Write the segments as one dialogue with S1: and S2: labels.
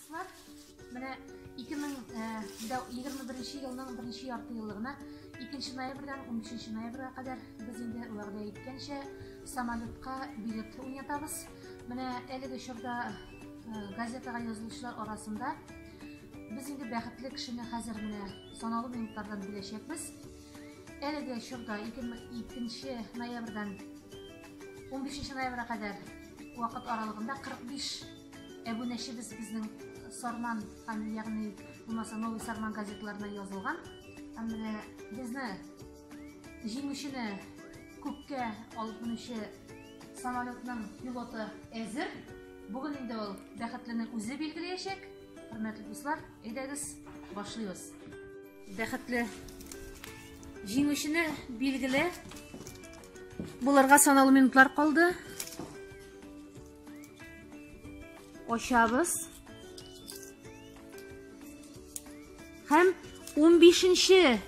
S1: Дуслар, менә 2021 э, елның беренче ярты еллыгына 2 ноябрьдән 13 ноябрьгә кадәр без инде вәгъдә иткәнчә самолетка билет уйнатабыз. Менә әлеге чорда э, газетага язылучылар арасында без инде бәхетле кешене хәзер менә санаулы минутлардан беләчәкбез. Әлеге чорда 2 ноябрьдән 15 ноябрьгә кадәр вакыт аралыгында 45 Әбүнәчебез безнең Сарман, ягъни булмаса Новый Сарман газетларына язылган. Һәм менә безне җиңүчене күккә алып менүче самолетның пилоты әзер. Бүген инде ул бәхетленең үзе билгеләячәк. Хөрмәтле дуслар, әйдәгез, башлыйбыз. Бәхетле җиңүчене билгеле булырга санаулы минутлар калды. Ачабыз. Һәм 15-нче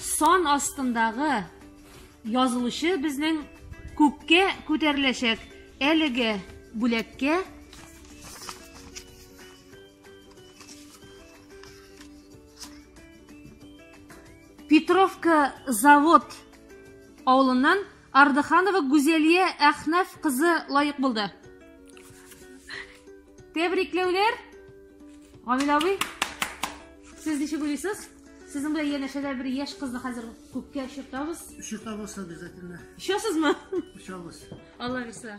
S1: сан астындагы язылышы безнең күккә күтәреләчәк. Әлеге бүләккә Петровка завод авылыннан Ардыханова Гүзәлия Әхнәф кызы лаек булды. Тәбрикләүләр! Гамил абый, сез ничек уйлыйсыз? Сезнең белән янәшәдә бер яшь кызны хәзер күккә очыртабыз. Очыртабыз
S2: обязательно.
S1: Очасызмы? Очабыз.
S2: Алла бирса.